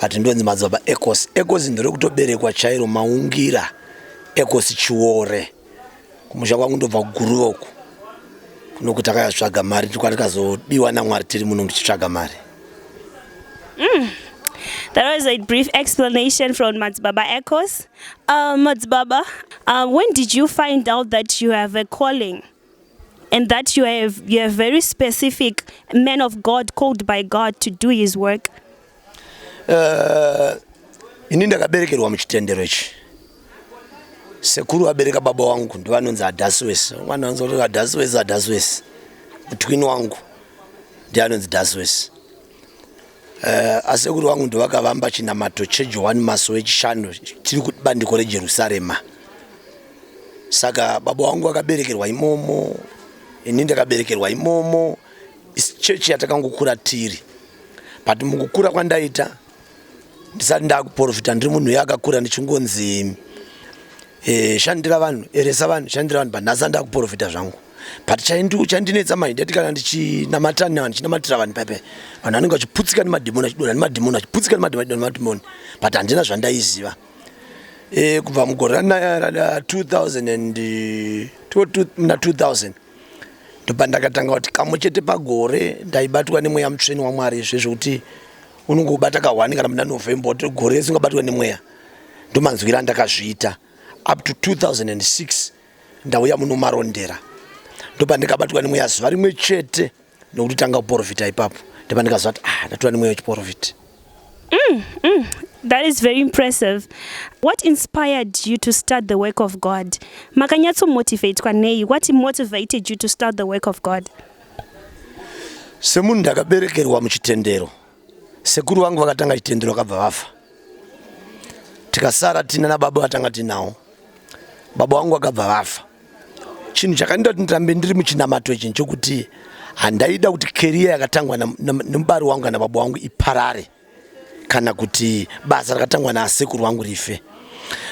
but ndonzi madzibaba ecosi ecosi nderekutoberekwa chairo maungira ecosi chiore kumusha kwangu ndobva kuguruva uku kunoku takayatsvaga mari tikwatikazodiwa namwari tiri muno ndichitsvaga mari mm. That was a brief explanation from Matsubaba Echoes. Um, Matsubaba, uh, when did you find out that you have a calling? and that you are, a, you are a very specific man of God called by God to do his work? Uh, ini ndakaberekerwa muchitendero ichi sekuru vabereka baba wangu ndivanonzi adaswes mwana anzi adaswes adaswes mutwini wangu ndianonzi daswes Eh, asekuru vangu ndovakavamba chinamato chejohani maso wechishanu chiri kubandiko rejerusarema saka baba vangu vakaberekerwa imomo ini ndakaberekerwa imomo chechi yatakangokura tiri but mukukura kwandaita ndisati ndakuprofita ndiri munhu uye akakura ndichingonzi Eh, shandira vanhu eresa vanhu shandira vanhu but nhasi andakuprofita zvangu but chandinetsa manje ndati kana ndichinamata nevanhu ndichinamatira vanhu pepe vanhu vanenge vachiputsika nemadhimoni achidona nemadhimoni achiputsika nemadhimoni but handina zvandaiziva eh, kubva mugore rana 2000 na 2000 ndopa ndakatanga kuti kamwe chete pagore ndaibatwa nemweya mutsveni wamwari zvezvekuti unongobata kahwani kana muna november kuti gore rese ungabatwa nemweya ndomanzwira ndakazviita up to 2006 ndauya muno marondera ndopandikabatwa nemweya zuva rimwe chete nokuti tanga kuporofita ipapo ndopandikaziva kuti ah ndatura nemweya wechiporofita mm, mm. That is very impressive. What inspired you to start the work of God? Makanyatso motivate kwa nei? What motivated you to start the work of God? Semunhu ndakaberekerwa muchitendero. Sekuru vangu vakatanga chitendero vakabva vafa. Tikasara tina na baba vatanga tinawo. Baba wangu vakabva vafa. Chinhu chakanita kuti ndirambe ndiri muchinamato ichi nchokuti handaida kuti career yakatangwa nemubari wangu kana baba wangu iparare kana kuti basa rakatangwa na sekuru wangu rife.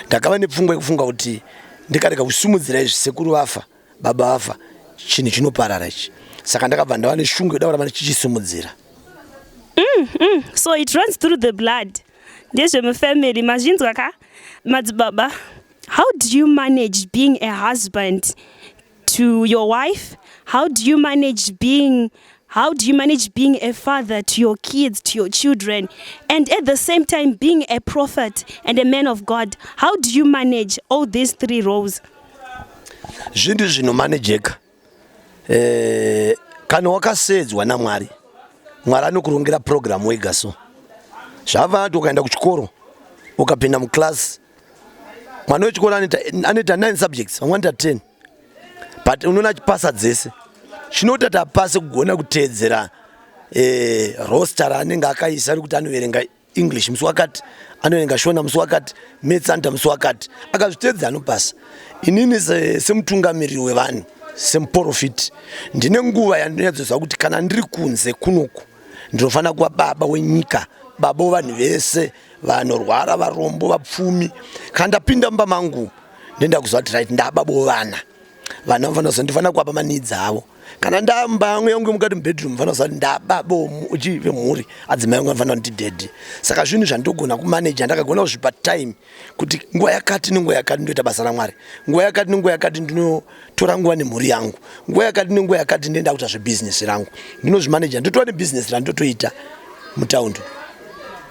Ndakava nepfungwa yekufunga kuti ndikarega kusimudzira izvi sekuru vafa. Baba vafa chinhu chinoparara ichi saka ndakabva ndava neshungu yoda kuramba ndichichisimudzira mm, mm. so it runs through the blood ndezvemufamily mazvinzwa ka madzibaba how do you manage being a husband to your wife how do you manage being how do you manage being a father to your kids to your children and at the same time being a prophet and a man of god how do you manage all these three roles zvinhu zvinomanejeka eh, kana wakaseedzwa namwari mwari anokurongera purogiramu wega so zvavati ukaenda kuchikoro ukapinda muclass mwana wechikoro anoita 9 subjects vamwe anoita 10 but unoona achipasa dzese chinoita tapase kugona kuteedzera eh, roster raanenge akaisa rekuti anoverenga english musi wakati anoverenga shona musi wakati maths anoita musi wakati akazvitedza anopasa inini semutungamiriri wevanhu semuporofiti ndine nguva yandinyatsozva kuti kana ndiri kunze kunoku ndinofanira kuva baba wenyika baba wevanhu vese vanorwara varombo vapfumi kana ndapinda mumba mangu ndoenda kuziva kuti right ndababa wevana vana vanofanira kuziva ndifanira kuwapa maneeds avo kana ndamba yangu yangu mukati mubedroom vanofanira kuziva ndaba bomu uchi vemhuri adzimai yangu anofanira kuti ndidedi saka zvinhu zvandogona kumaneja ndakagona kuzvipa time kuti nguva yakati nenguva yakati ndoita basa ramwari nguva yakati nenguva yakati ndinotora nguva nemhuri yangu nguva yakati nenguva yakati ndoenda kuita zvebhizinesi rangu ndinozvimaneja ndotova nebhizinesi randotoita mutaundi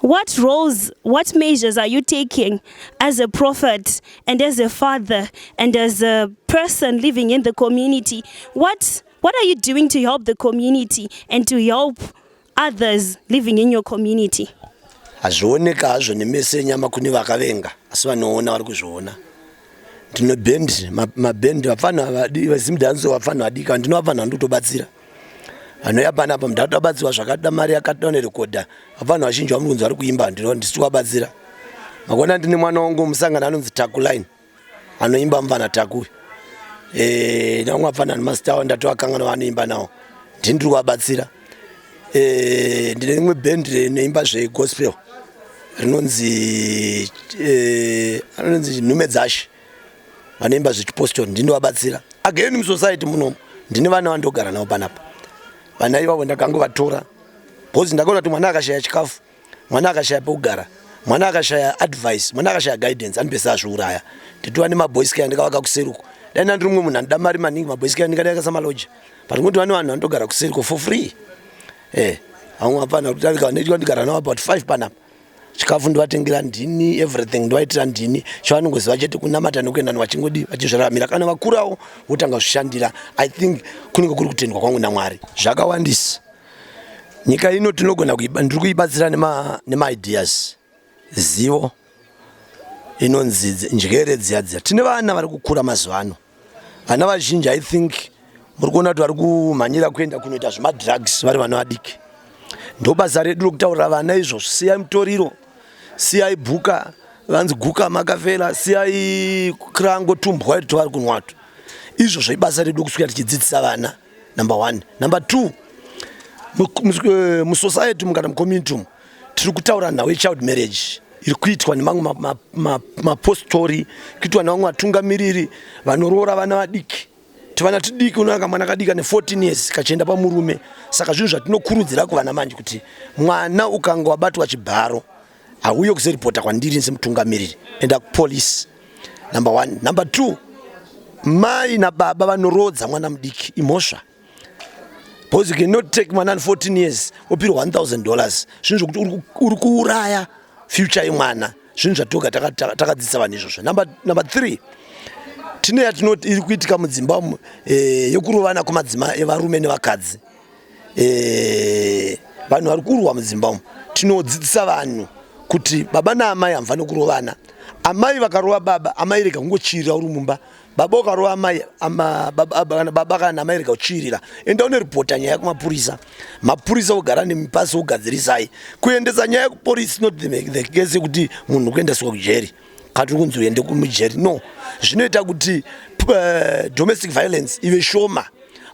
What roles, what measures are you taking as a prophet and as a father and as a person living in the community? What, what are you doing to help the community and to help others living in your community? hazvioneka hazvo nemeso enyama kune vakavenga asi vanoona vari kuzviona ndinobend mabend vapfanha vazimdanso vapfanha vadika ndinovafanha ndikutobatsira ma anouya panapa mdada abatsirwa zvakada mari yakada nerekodha avanhu vazhinji vamukunzi vari kuimba ndino ndisiti wabatsira makona ndine mwana wangu musangano anonzi takuline anoimba mvana taku eh, navamwe apfana nemazitawa ndatoakangana vanoimba nawo ndini ndiri kuvabatsira eh, ndine rimwe band rinoimba zvegospel rinonzi eh, anonzi nhume dzashe vanoimba zvechipostori ndinovabatsira again musociety munomu ndine vana vandogara navo panapa vana ivavo ndakangovatora bcause ndakaona kuti mwana akashaya chikafu mwana akashaya pekugara mwana akashaya advice mwana akashaya guidance anopesa azviuraya nditova nemaboys kaya ndikavaka kuseri uko dai ndandiri mumwe munhu andoda mari maningi maboys kaya ndingadai kasamaloja but ngokuti vane vanhu vanotogara kuseri ko for free e eh, vamwe hapana kuti ndikava ndigara navo about five panapa chikafu ndovatengera ndini everything ndovaitira ndini chavanongoziva chete kunamata nekuenda ni vachingodii vachizviraramira kana vakurawo votanga kuzvishandira i think kunenge kuri kutendwa kwangu namwari zvakawandisa nyika ino tinogona ndiri kuibatsira nemaideas zivo inonzi njere dziya dziya tine vana vari kukura mazuva ano vana vazhinji i think muri kuona kuti vari kumhanyira kuenda kunoita zvemadrugs vari vana vadiki ndo basa redu rokutaurira vana izvo siyai mutoriro siyai bhuka vanzi guka makafela siyai krango tumbwa iri tovari kunwato izvo zvaibasa redu kusvika tichidzidzisa vana number one number two eh, musociety mu kana mucommunity umu tiri kutaura nhau yechild marriage iri kuitwa nemamwe mapostori kuitwa nevamwe vatungamiriri vanoroora vana vadiki tivana tidiki unoyanga mwana kadiki ane 14 years kachienda pamurume saka zvinhu zvatinokurudzira kuvana manje kuti mwana ukanga wabatwa chibharo hauye kuzoripota kwandiri semutungamiriri enda kupolice number one number two mai nababa vanoroodza mwana mudiki imhosva because you cannot take mwana ane 14 years opirwa 1000 dollars zvinhu zvokuti uri kuuraya future yemwana zvinhu zvatoga takadzidzisa vanhu izvozvo number three tine yatinoti iri kuitika mudzimba umu eh, yokurovana kwemadzima evarume nevakadzi eh, vanhu vari kurwa mudzimba umu tinodzidzisa vanhu kuti baba naamai hamufani kurovana amai vakarova baba amai rega kungochirira uri mumba baboka rova amai baba kana amai rega kuchiirira enda unoripota nyaya kumapurisa mapurisa ogara nemipasi ogadzirisai kuendesa nyaya kupolisi not the case yekuti munhu kuendeswa kujeri kana tiri kunzi uende kumujeri no zvinoita kuti eh, domestic violence ive shoma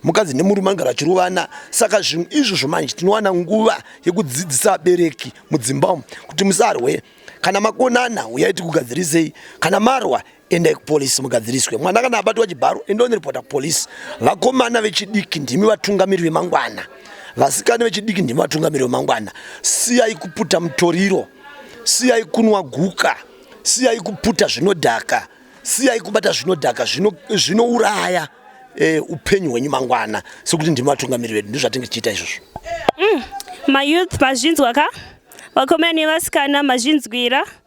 mukadzi nemurume anogara achirovana saka zvinhu izvozvo manje tinowana nguva yekudzidzisa vabereki mudzimba umu kuti musarwe kana makonana uyai tikugadzirisei kana marwa endai kupolisi mugadziriswe mwana kana abatwa chibharo endoniripota kupolisi vakomana vechidiki ndimi vatungamiri vemangwana vasikana vechidiki ndimi vatungamiri vemangwana siyai kuputa mutoriro siyai kunwa guka siyai kuputa zvinodhaka siyai kubata zvinodhaka zvinouraya e, upenyu hwenyu mangwana sekuti ndimi vatungamiri vedu ndizvatinge tichiita izvozvo mm, mayouth mazvinzwa ka vakomana nevasikana mazvinzwira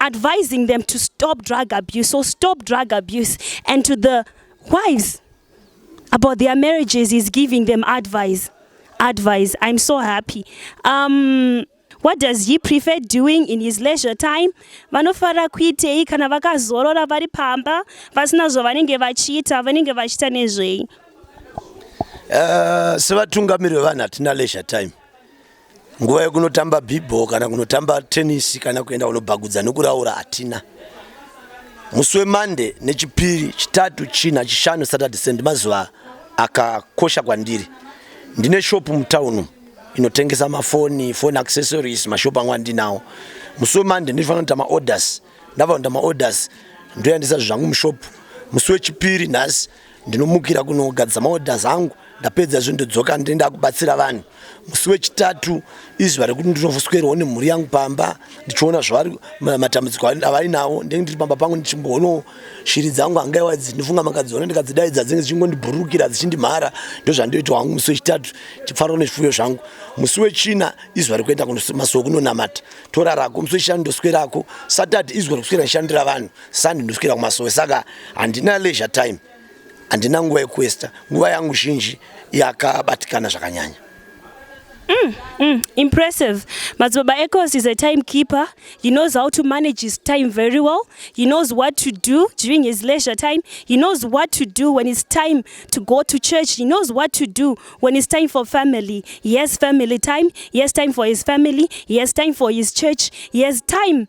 advising them to stop drug abuse or stop drug abuse and to the wives about their marriages is giving them advice advice i'm so happy um, what does he prefer doing in his leisure time vanofarira kuitei kana vakazorora vari pamba vasina zvavanenge vachiita vanenge vachiita nezvei uh, sevatungamiri vevanhu hatina leisure time nguva yekunotamba bhibho kana kunotamba tenisi kana kuenda kunobhagudza nekuraura hatina musi wemande nechipiri chitatu china chishanu saturday send mazuva akakosha kwandiri ndine shopu mutawunu inotengesa mafoni foni accessories mashopu angu andinawo musi wemande ndinofanira kuita maorders ndava kuita maorders ndoyandisa zvangu mushopu musi wechipiri nhasi ndinomukira kunogadza maorders angu ndapedza izvo ndodzoka ndinoenda kubatsira vanhu musi wechitatu izuva rekuti ndinovuswerwawo nemhuri yangu pamba ndichiona zvavari matambudziko avainawo ndenge ndiri pamba pangu ndichimboonawo shiri dzangu hangaiwa idzi ndinofunga makadziona ndikadzidaidza dzinge dzichingondibhururukira dzichindimhara ndozvandoitwa hangu musi wechitatu ndichifarwa nezvifuyo zvangu musi wechina izuva rekuenda masuwo kunonamata torarako musi wechishanu ndoswerako satad izuva rekuswera ndishandira vanhu Sunday ndoswera kumasowe saka handina leisure time handina nguva yekuesta nguva yangu zhinji yakabatikana zvakanyanya Mm, mm, impressive. Mazibaba Echoes is a timekeeper. He knows how to manage his time very well. He knows what to do during his leisure time. He knows what to do when it's time to go to church. He knows what to do when it's time for family. He has family time. He has time for his family. He has time for his church. He has time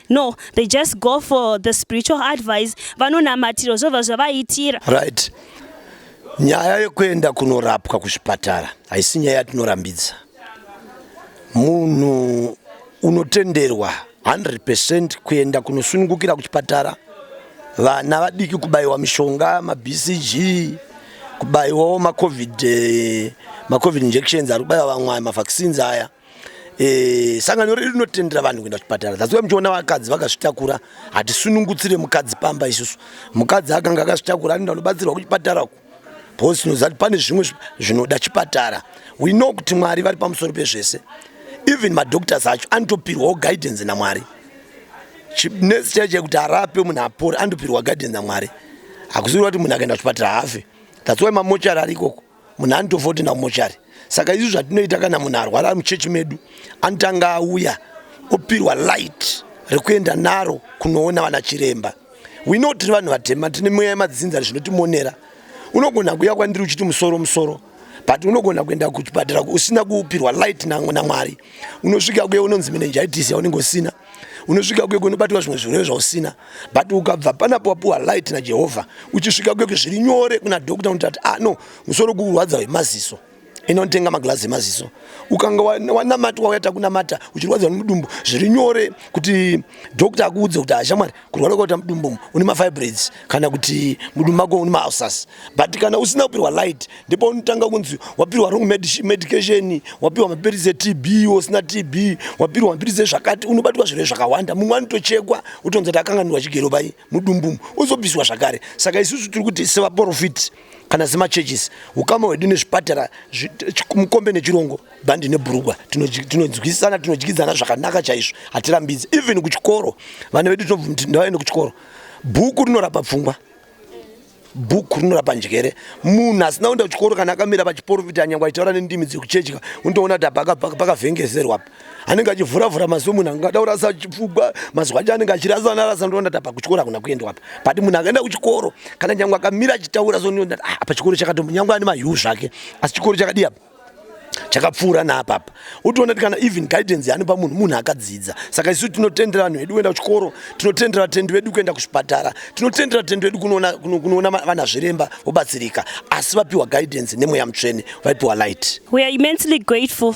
No, they just go for the spiritual advice vanonamatirwa zvova zvavaitira. Right. Nyaya yekuenda kunorapwa kuzvipatara haisi nyaya yatinorambidza. Munhu unotenderwa 100% kuenda kunosunungukira kuchipatara. Vana vadiki kubaiwa mishonga, maBCG, kubaiwawo maCovid, eh, maCovid injections ari kubaiwa vamwe mavaccines aya. Eh, sangano redu rinotendera vanhu kuenda kuchipatara that's why muchiona vakadzi vakazvitakura hatisunungutsire mukadzi pamba isusu mukadzi akanga akazvitakura anoenda kunobatsirwa kuchipatara ku because tinoziva kuti pane zvimwe zvinoda chipatara we know kuti mwari vari pamusoro pezvese even madoctors acho anotopirwawo guidance namwari nesi chaiche kuti arape munhu apore anotopirwa guidance namwari hakuziva kuti munhu akaenda kuchipatara hafe that's why mamochari ari ikoko munhu anotofa kuti enda kumochari saka izvi zvatinoita kana munhu arwara ari muchechi medu anotanga auya opirwa light rekuenda naro kunoona vana chiremba wino tiri vanhu vatema tine mweya yemadzinza zvinotimonera unogona kuuya kwandiri uchiti musoro musoro but unogona kuenda kuchipatara usina kupirwa light namwari unosvika kuye unonzi menenjaitisi yaunenge usina unosvika kuye kunobatwa zvimwe zvirwere zvausina but ukabva panapo wapiwa light najehovha uchisvika kuye zviri nyore kuna dokta unoti ati ah no musoro kurwadza wemaziso inotenga maglazi emaziso ukanga wanamatwa wayata kunamata uchirwadziwa nemudumbu zviri nyore kuti dokta akuudze kuti ashamwari kurwara kwaita mudumbu une mafibroids kana kuti mudumbu mako une maulcers but kana usina kupirwa light ndipo unotanga kunzi wapirwa wrong medication wapirwa mapiritsi etb usina tb wapirwa mapiritsi ezvakati unobatwa zvirwere zvakawanda mumwe anotochekwa utonzi kuti akanganirwa chigero pai mudumbu uzobviswa zvakare saka isusu tiri kuti sevaprofiti kana semachurches ukama hwedu nezvipatara mukombe nechirongo bhandi nebhurugwa tinonzwisisana tinodyidzana zvakanaka chaizvo hatirambidzi even kuchikoro vana vedu tinobvumti ndavaende kuchikoro bhuku rinorapa pfungwa bhuku rinorapa njere munhu asina kuenda kuchikoro kana akamira pachiporofita nyangwe achitaura nendimi dzekuchechi untoona kuti apa pakavhengeserwa apa anenge achivhura vhura maziso munhu anenge ada kurasa chipfugwa mazuva acho anenge achirasa anarasa ndoona ta pakuchikoro hakuna kuendwa apa but munhu akaenda kuchikoro kana nyange akamira achitaura so ndoona ah, apa chikoro chakato nyange ane mahiu zvake asi chikoro chakadii apa chakapfuura naapapa utoona ti kana even guidance yaanopa munhu munhu akadzidza saka isu tinotendera vanhu vedu kuenda kuchikoro tinotendera vatendi vedu kuenda kuzvipatara tinotendera vatendi vedu kunoona vana zviremba vobatsirika asi vapiwa guidance nemweya mutsvene vaipiwa light we are immensely grateful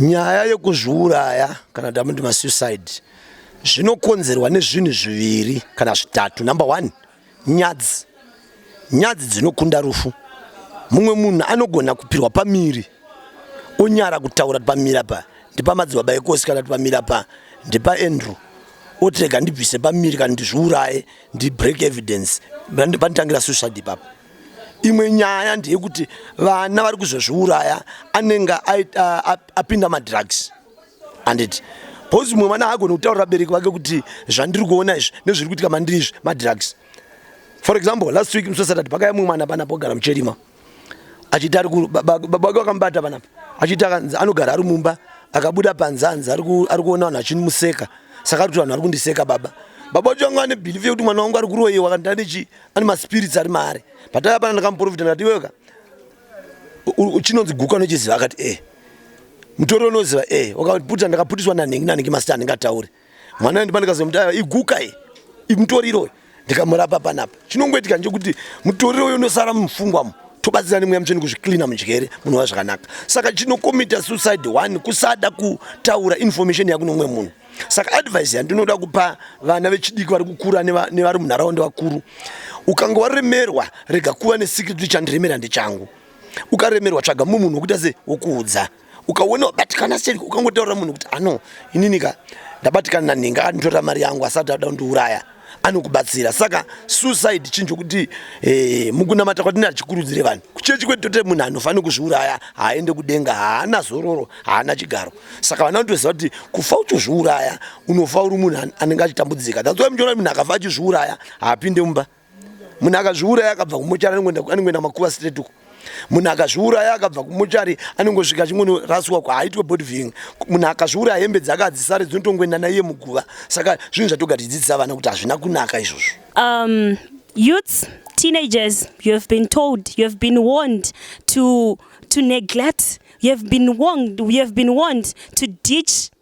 Nyaya yekuzviuraya kana kuti amuti masuicide zvinokonzerwa nezvinhu zviviri kana zvitatu. Number one, nyadzi. Nyadzi dzinokunda rufu. Mumwe munhu anogona kupirwa pamiri onyara kutaura kuti pamiri apa ndipamadzibaba ekosi kana kuti pamiri apa ndipaandrew otirega ndibvise pamiri kana ndizviuraye ndibreak evidence panditangira suicide ipapo. imwe nyaya ndeyekuti vana vari kuzozviuraya anenge apinda madrugs anditi bcause mumwe mwana haagoni kutaurira vabereki vake kuti zvandiri kuona izvi nezviri kuitika mandiri izvi madrugs for example last week musi wesatade pakaya mumwe mwana panapo ogara mucherima achiti ari baba vake vakamubata panapo achiti akanzi anogara ari mumba akabuda panze anzi ari kuona vanhu vachindimuseka saka ari kuti vanhu vari kundiseka baba baba vacho vanga vane bhilifi yekuti mwana wangu ari kuroyiwa kandanechi ane maspirits ari maari pataiva pana ndakamuprofita ndikati iweka chinonzi guka unochiziva akati e mutori unoziva e wakaputa ndakaputiswa nanhingi nanhingi masita anenge atauri mwana ndipa ndikazomutaa iguka i mutori iroyo ndikamurapa panapa chinongoitika nchokuti mutori iroyo unosara mumufungwamo tobatsira nemweya mucheni kuzvicleana munjere munova zvakanaka saka chinokomita suicide one kusada kutaura information yakunomwe munhu saka advice yandinoda kupa vana vechidiki vari kukura nevari munharaunda vakuru ukanga waremerwa rega kuva nesecret kuti chandiremera ndechangu ukaremerwa tsvaga mumwe munhu wokuita se wokuudza ukaona wabatikana sei ukangotaurira munhu kuti ano ininika ndabatikana nanhinga anditorera mari yangu asati ada kundiuraya anokubatsira saka suicide chinhu chokuti eh, mukunamata kwatini hachikurudzire vanhu kuchechi kwedu tote munhu anofanira kuzviuraya haaende kudenga haana zororo haana chigaro saka vana vanotoziva kuti kufa uchizviuraya unofa uri munhu anenge achitambudzika that's why muchiona munhu akafa achizviuraya haapinde mumba munhu akazviuraya akabva kumochara anengoenda makuva straight uko munhu akazviuraya akabva kumuchari anongosvika chingonoraswa kwaaitwe body ving munhu akazviuraya hembe dzake adzisare dzinotongoenda naiye muguva saka zvinhu zvatoga tichidzidzisa vana kuti hazvina kunaka izvozvo um, youths teenagers you have been told you have been warned to, to neglect you have been warned, you have been warned to ditch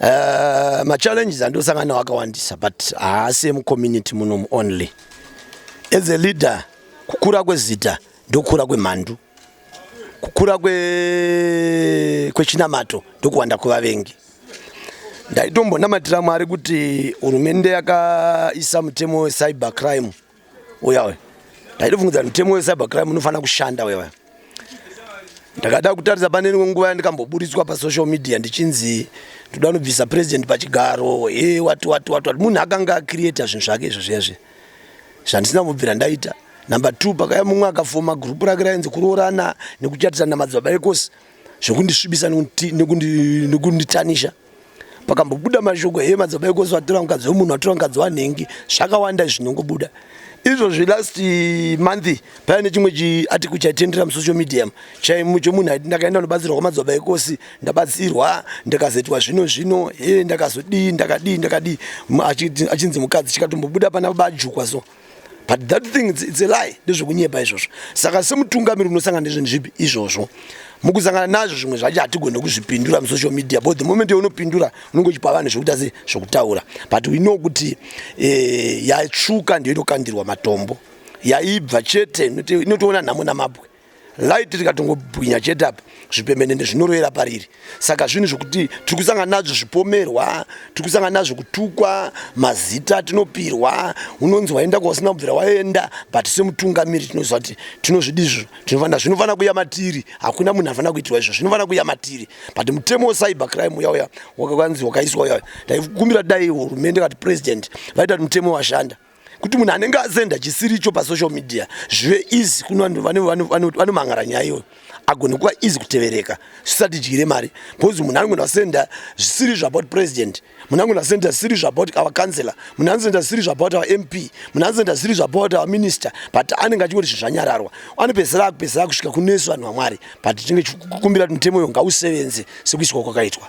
Uh, machallenges andosangana nawo akawandisa but haasi emucommunity munomu only as a leader kukura kwezita ndokukura kwemhandu kukura kwechinamato kwe ndokuwanda kwevavengi ndaitombonamatira mwari kuti hurumende yakaisa mutemo wecyber crime uya uya ndaitofungidzira mutemo wecyber crime unofanira kushanda uya uya ndakada kutarisa pane rimwe nguva yandikamboburitswa pasocial media ndichinzi ndoda kunobvisa president pachigaro e wati wati wati wati munhu akanga acreata zvinhu zvake izvo zviya zviya zvandisina kubvira ndaita number two pakaya mumwe akafoma gurupu rake rainzi kuroorana nekuchatisana na madzibaba ekosi zvekundisvibisa nekunditanisha neku pakambobuda mashoko he madzibaba ekosi vatora mukadzi wemunhu vatora mukadzi wanhengi zvakawanda zvinongobuda izvozvi last month paya nechimwe chiatiku chaitendera musocial medium chaimu chomunhu aiti ndakaenda kunobatsirwa kwamadzibaba ekosi ndabatsirwa ndakazoitwa zvino zvino he ndakazodii ndakadii ndakadii achinzi mukadzi chikatombobuda pana bajukwa so but that thing it's, it's a lie ndezvekunyepa izvozvo saka semutungamiri unosangana nezvinhu zvipi izvozvo mukusangana nazvo zvimwe zvacho hatigone kuzvipindura musocial media but the moment yaunopindura unenge uchipa vanhu zvekuita se zvekutaura but we know kuti eh, yatsvuka ndiyo inokandirwa matombo yaibva chete inotoona nhamo namabwe light rikatongobwinya chete apa zvipembenene zvinorovera pariri saka zvinhu zvekuti tiri kusangana nazvo zvipomerwa tiri kusangana nazvo kutukwa mazita tinopirwa unonzi waenda kwausina kubvira waenda but semutungamiri tinoziva kuti tinozvidi izvo tinofanira zvinofanira kuya matiri hakuna munhu anofanira kuitirwa izvo zvinofanira kuya matiri but mutemo wecyber crime uya uya wakakanzi wakaiswa uya uya ndaikumbira dai hurumende kati president vaita kuti mutemo washanda kuti munhu anenge asenda chisiri icho pasocial media zvive easy kune vanhu vanomangara nyaya iyoyo agone kuva easy kutevereka zvisati dyire mari because munhu anogona kusenda zvisiri zvabout president munhu anogona kusenda zvisiri zvabout our councilor munhu anosenda zvisiri zvabout our mp munhu anosenda zvisiri zvabout our minister but anenge achingoti zvinhu zvanyararwa anopedzisira akupedzisira kusvika kunesu vanhu vamwari but tinenge kukumbira kuti mutemo uyo ngausevenze sekuiswa kwakaitwa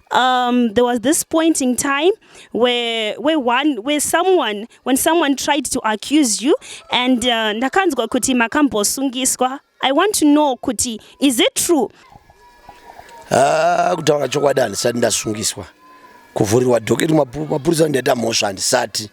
um, there was this point in time where, where, one, where someone, when someone tried to accuse you and uh, ndakanzwa kuti makambosungiswa i want to know kuti is it true ah, kutaura chokwadi handisati ndasungiswa kuvhurirwa dhoketi mapurisa ndiaita mhosva handisati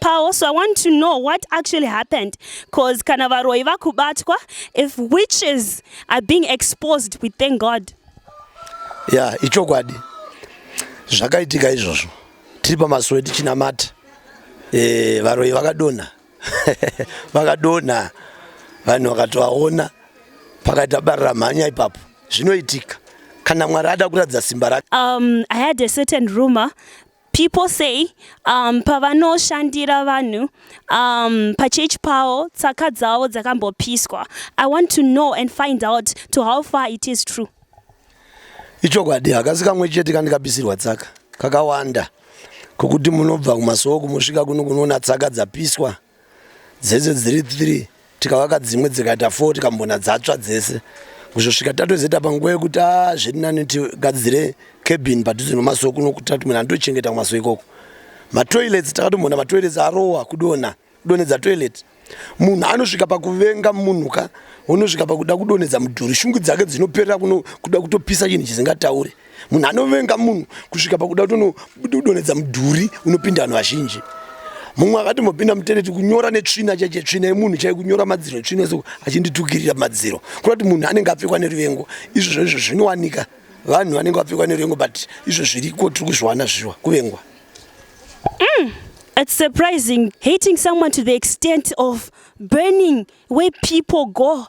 pawo so i want to know what actually happened cause kana varoyi vakubatwa if witches are being exposed we thank god ya yeah, ichokwadi zvakaitika izvozvo tiri pamasuwe tichinamata e, eh, varoyi vakadonha vakadonha vanhu vakatovaona pakaita barira mhanya ipapo zvinoitika kana mwari ada kuratidza simba rake um, i had a certain rumor People say um, pavanoshandira vanhu um, pachechi pavo tsaka dzavo dzakambopiswa. I want to know and find out to how far it is true. Ichokwadi hakasi kamwe chete kandikapisirwa tsaka kakawanda kokuti munobva kumasoko mosvika kuno kunoona tsaka dzapiswa. dzese dziri three tikavaka dzimwe dzikaita four tikambona dzatsva dzese kuzosvika tatozoita panguva yekuti a ah, zviri nani tigadzire cabin padhuze nemasowe kuno kuti tati munhu andochengeta kumasowe ikoko matoilets takatombona matoilets arowa kudona kudonedza toilet munhu anosvika pakuvenga munhu ka unosvika pakuda kudonedza mudhuri shungu dzake dzinoperera kuda kutopisa chinhu chisingataure munhu anovenga munhu kusvika pakuda kutodonedza mudhuri unopinda vanhu vazhinji mumwe akatombopinda mutereti kunyora netsvina chaiche tsvina yemunhu chai kunyora madziro tsvina yeso achinditukirira madziro kuda kuti munhu anenge apfekwa neruvengo izvozvo izvo zvinowanika vanhu vanenge vapfekwa neruvengo but izvo zviriko tiri kuzviwana zviwa kuvengwa mm. It's surprising hating someone to the extent of burning where people go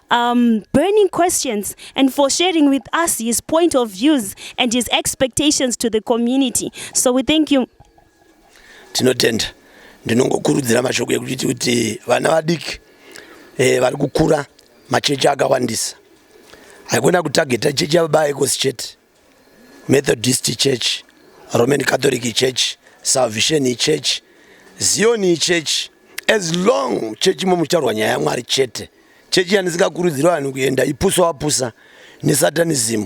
um, burning questions and for sharing with us his point of views and his expectations to the community. So we thank you. Tinotenda. Ndinongokurudzira mashoko ekuti kuti vana vadiki eh, vari kukura machechi akawandisa. Haikona kutageta chechi yababa ekosi chete. Methodist Church, Roman Catholic Church, Salvation Church, Zion Church as long chechi imomo muchitaurwa nyaya yamwari chete chechi yanisingakurudziri vanhu kuenda ipusa wapusa nesatanism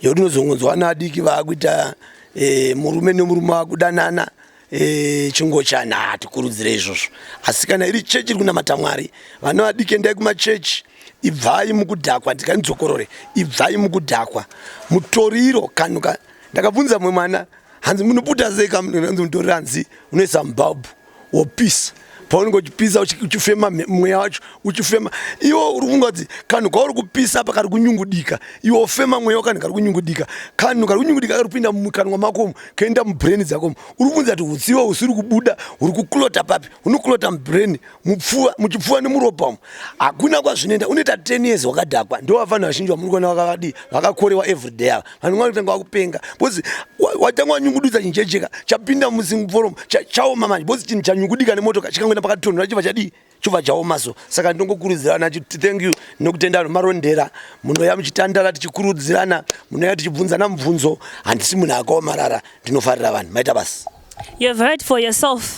yekuti unozongonzwa vana vadiki vaakuita e, murume nemurume wakudanana Eh, chingochani hatikurudzire izvozvo asi kana iri chechi iri kunamata mwari vana vadiki endai kumachechi ibvai mukudhakwa ndikanidzokorore ibvai mukudhakwa mutoriro kanuka ndakabvunza mumwe mwana hanzi munoputa sei kaanzi mutoriro hanzi unoisa mubhabhu wopisa paunenge uchipisa uchifema mweya wacho uchifema iwo uri kunga kuti kanhu kauri kupisa apa kari kunyungudika iwo ofema mweya wakanhu kari kunyungudika kanhu kari kunyungudika kari kupinda mukanwa makomo kaenda mubrain dzakomo uri kunzi kuti utsiwa usiri kubuda uri kuklota papi unoklota mubrain mupfuva muchipfuva nemuropa umu hakuna kwazvinoenda unoita ten years wakadhakwa ndovafanhu vazhinji vamuri kuona vakavadii vakakorewa everyday ava vanhu vanga kutanga vakupenga because watanga wanyungududza chinhu chejeka chapinda musimforom chaoma manje because chinhu chanyungudika nemotoka chikangoenda pakatonhora chibva chadii chobva chaoma so saka ndongokurudzirana chiti thank you nokutenda vanhu marondera munoya muchitandara tichikurudzirana munoya tichibvunzana mubvunzo handisi munhu akaomarara ndinofarira vanhu maita basi you've heard for yourself